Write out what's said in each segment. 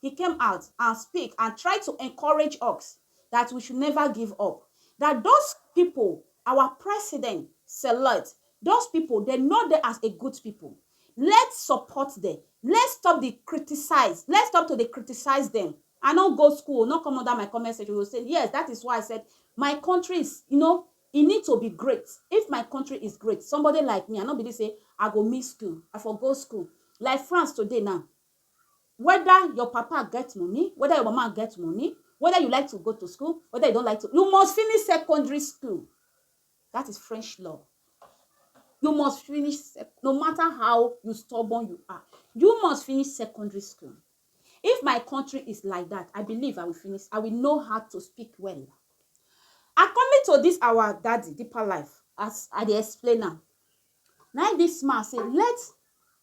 He came out and speak and try to encourage ux that we should never give up that those people our president select those people dem know dem as a good people let's support them let's stop the criticize let's stop to dey criticize them I no go school no come under my comment section you go say yes that is why I said my country is you know e need to be great if my country is great somebody like me I no believe say I go miss school I for go school like France today now weda your papa get money, weda your mama get money, weda you like to go to school, weda you don like to, you must finish secondary school. That is French law. You must finish, no matter how you stubborn you are, you must finish secondary school. If my country is like that, I believe I will finish. I will know how to speak well. According to this, our daddy, deeper life, as I dey explain am, now this man say, let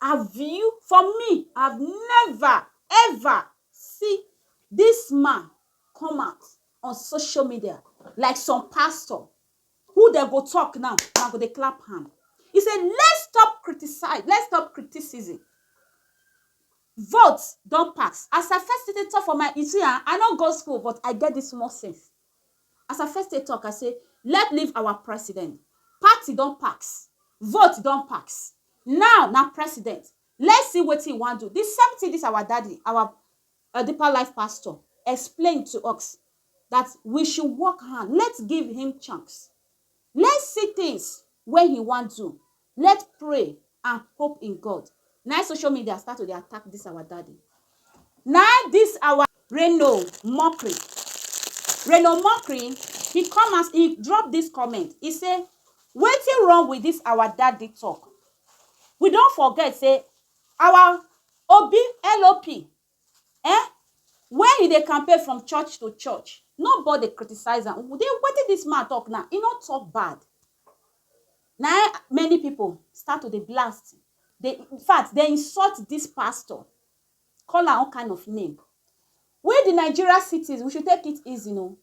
Have you for me have never ever see this man come out on social media like some pastor who they go talk now na go dey clap hand he say let's stop criticize let's stop criticism vote don pass as i first dey talk for my you see ah i no go school but i get this small sense As I first take talk, I say let leave our president. Party don pax, vote don pax. Now na president. Let's see wetin he wan do. The same thing this our daddy, our uh, deeper life pastor, explained to us that we should work hard. Let's give him chance. Let's see things wey he wan do. Let pray and hope in God na im social media start to dey attack this our daddy na im this our Reno Mokri Reno Mokri he come as he drop this comment he say wetin wrong with this our daddy talk we don forget say our Obi LOP eh wen he dey campaign from church to church nobody criticize am den wetin dis man talk now he no talk bad na eh many people start to dey blast dey infact dey insult dis pastor call am all kind of name we the Nigeria citizens we should take it easy oh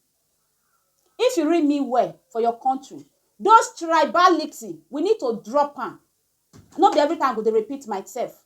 if you read me well for your country those tribality we need to drop am no be everytime i go dey repeat myself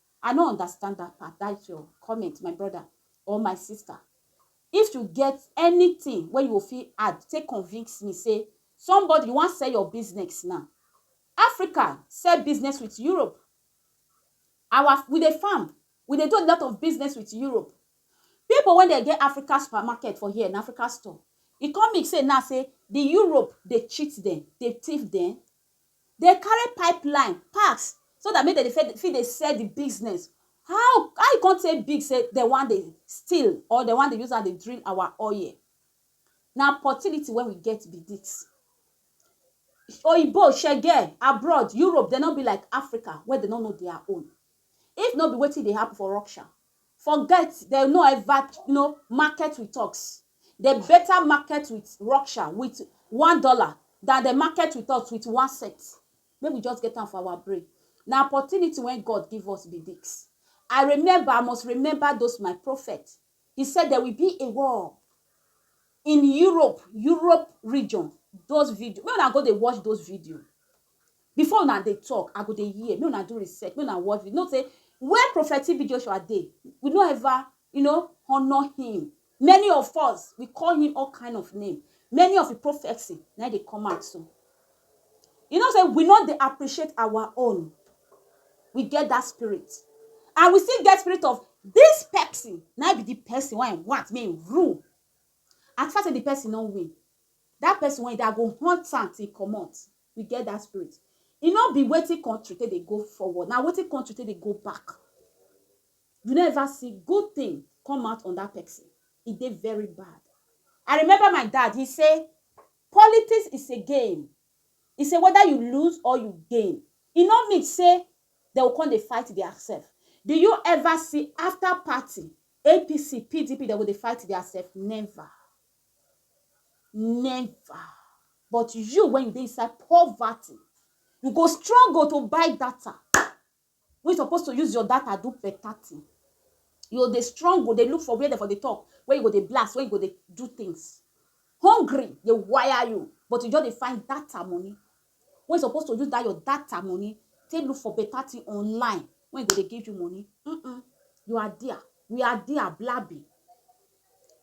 I no understand that part, that your comment, my brother or my sister. If you get anything wey you go fit add, take convince me say somebody you wan sell your business now. Africa sell business with Europe. Our we dey farm, we dey do a lot of business with Europe. People wey dey get Africa supermarket for here, na Africa store. E come mean say now say the Europe dey cheat dem, dey thief dem? Dey carry pipeline pass so dat make dem dey fit dey sell di business how how e come take big say dem wan dey steal or dem wan dey use am dey drill our oil na opportunity wey we get be dis oyinbo shege abroad Europe dem no be like Africa wey dem no know dia own if no be wetin dey happen for Russia Forget dem no ever no market with ox dem better market with ruksha with one dollar than dem market with us with one cent make we just get am for our brain na opportunity wey God give us be this I remember I must remember those my prophet he said there will be a war in Europe Europe region those video make una go dey watch those video Before una dey talk, I go dey hear, make una do research, make una watch video, know say where Prophet TB Joshua dey, we no ever you know, honour him. Many of us, we call him all kind of name. Many of him prophecy na im dey come out so. You know say we no dey appreciate our own. We get that spirit. And we still get spirit of this person na im be the person wey I want make im rule. As far say the person no win, That person wey dey, I go hunt am till e comot. We get that spirit. E no be wetin country take dey go forward, na wetin country take dey go back. You no ever see good thing come out on that person. E dey very bad. I remember my dad, he say, politics is a game. He say whether you lose or you gain, e no mean say dem go come dey fight their self. Do you ever see after party, APC, PDP, dem go dey fight their self? Never. Never. But you, when you dey inside poverty, you go struggle to buy data. When you supposed to use your data do better thing. You go dey struggle, dey look for where they for dey talk, where you go dey blast, where you go dey do things. Hungry dey wire you, but you just dey find data money. Wey you suppose to use that your data money take look for better thing online wey go dey give you money. Mm-mm. You are there. We are there, blabbing.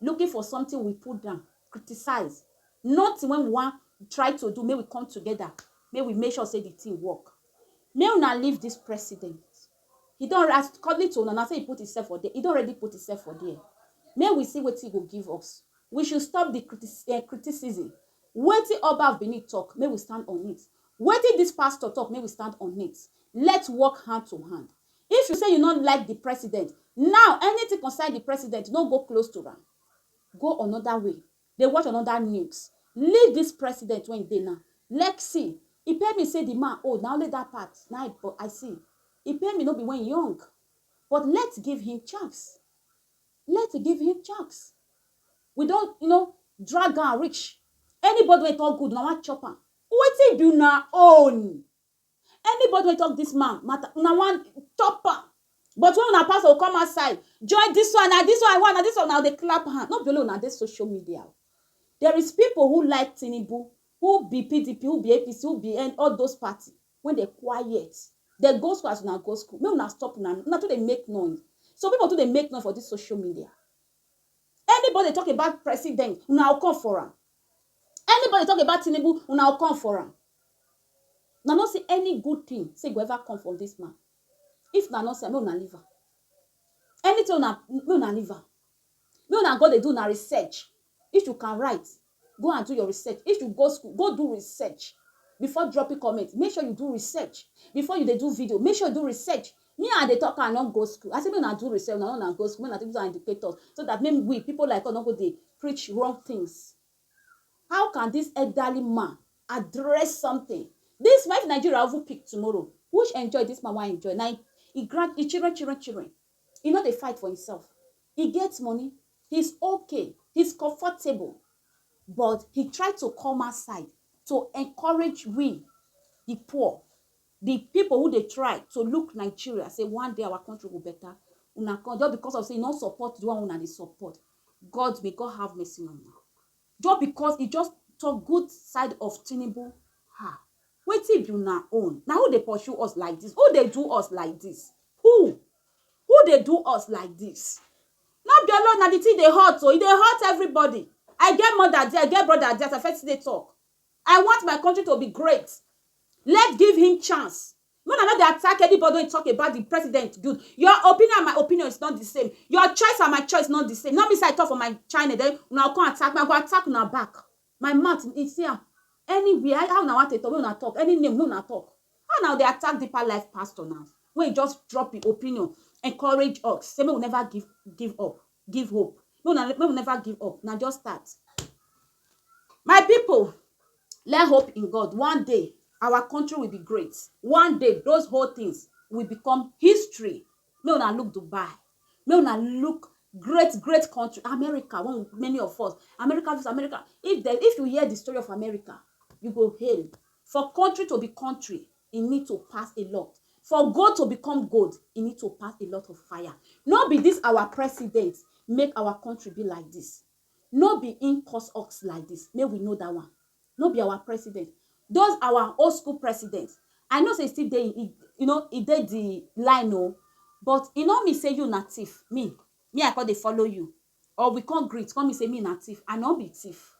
Looking for something we put down, criticize. Nothing when we want try to do, may we come together, may we make sure say the thing work. May una leave this president. He don already, as according to una, na say he put himself for there, he don already put himself for there. Make we see wetin he go give us. We should stop the criti eh, criticism. Wetin Oba of Benin talk, make we stand on it. Wetin this pastor talk, make we stand on it. Let's work hand to hand. If you say you no like the president, now anything concern the president, no go close to am. Go another way. Dey watch another news Leave this president wey e dey now Lec see E pain me say the man old na only that part na I but I see E pain me no be when e young But let give him chance Let give him chance We don you know drag am reach Anybody wey talk good una wan chop am Wetin be una own? anybody wey talk this man matter una wan top am but when una pastor come outside join this one na this one one na this one na dey clap hand no be only una dey social media there is people who like Tinubu who be PDP who be APC who be N all those party when they quiet they go school as una go school make una stop una una too dey make noise so people too dey make noise for this social media anybody talk about president una come for am anybody talk about Tinubu una come for am Una no see any good tin sey e go ever come from dis man? If una no see am, make una leave am. Anytin wey una, make una leave am. Make una go dey do una research. If you can write, go and do your research. If you go school, go do research before dropping comment. Make sure you do research before you dey do video. Make sure you do research. Me I dey tok am, I no go school. I say make una do research, una no una go school. Make una take use am educate us so dat make we, pipu like us no go dey preach wrong tins. How can this elderly man address something? This man if Nigeria even pick tomorrow, which enjoy this man wan enjoy? Na him he grant his children, children, children. He no dey fight for himself. He get money. He's okay. He's comfortable. But he try to come outside to encourage we, the poor, the people who dey try to look Nigeria, say one day our country go better. Una come just because of say you no support the one una dey support. God may God have mercy on you. Just because he just talk good side of Tinubu. Ha. Wetin be una own? Na who dey pursue us like this? Who dey do us like this? Who? Who dey do us like this? No be alone na the thing dey hurt o. Oh. E dey hurt everybody. I get mother there, I get brother there, I fit still dey talk. I want my country to be great. Let's give him chance. Make una no dey attack anybody wey talk about the president good. Your opinion and my opinion is not the same. Your choice and my choice is not the same. No be say I talk for my channel then una go come attack me. I go attack una back. My mouth, you see am, anywhere, how una want take talk, make una talk. Any name, make una talk. How una go dey attack Deeper Life pastor now wey just drop im opinion, encourage us, say make we never give give up. give hope make una make we never give up na just start my people let hope in God one day our country will be great one day those whole things will become history make una look Dubai make una look great great country America one many of us America this America if they if you hear the story of America you go hail for country to be country e need to pass a lot for gold to become gold e need to pass a lot of fire no be this our president make our country be like this no be in cause us like this make we know that one no be our president those our old school president i know say e still dey e you know e dey the line o but e no mean say you na thief me me i come dey follow you or we come greet come mean say me na thief i no be thief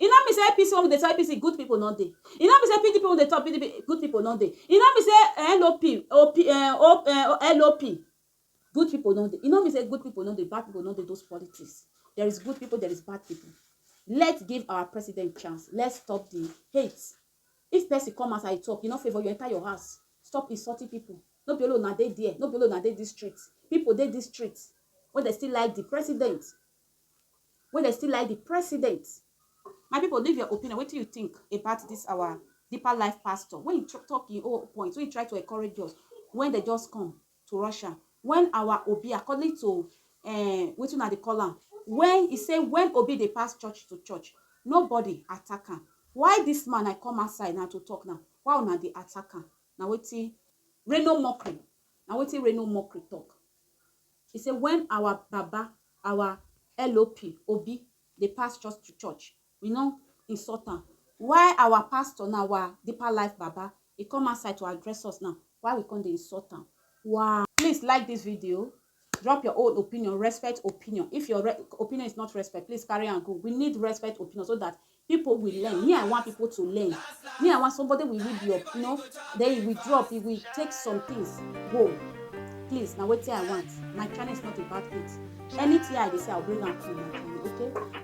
e no mean say apc when we dey talk apc good people no dey e no mean say pdp when we dey talk pdp good people no dey e no mean say lop op uh, lop good people no dey e no mean say good people no dey bad people no dey those politics there is good people there is bad people let's give our president chance let's stop the hate If person come as I talk, you no favour, you enter your house. Stop insulting people. No be only una dey there, no be only una dey this street. People dey this street wey dey still like the president, wey dey still like the president. My people, leave your opinion. Wetin you think about this our deeper life pastor? When he talk him own point, when he try to encourage us, when they just come, to Russia when our Obi according to um wetin una dey call am when he say when Obi dey pass church to church nobody attack am why this man I come outside now to talk now why una dey attack am na wetin Reno Mockery na wetin Reno Mockery talk he say when our baba our LOP Obi dey pass church to church We no insult am. Why our pastor now, our deeper life baba, e come outside to address us now, why we come dey insult am? Why? Please like this video, drop your own opinion, respect opinion. If your opinion is not respect, please carry am go. We need respect opinion so that people will learn me i want people to learn me i want somebody will read your you know then he will drop he will take some things go please na wetin i want my channel is not about it anything i dey say i bring am to you okay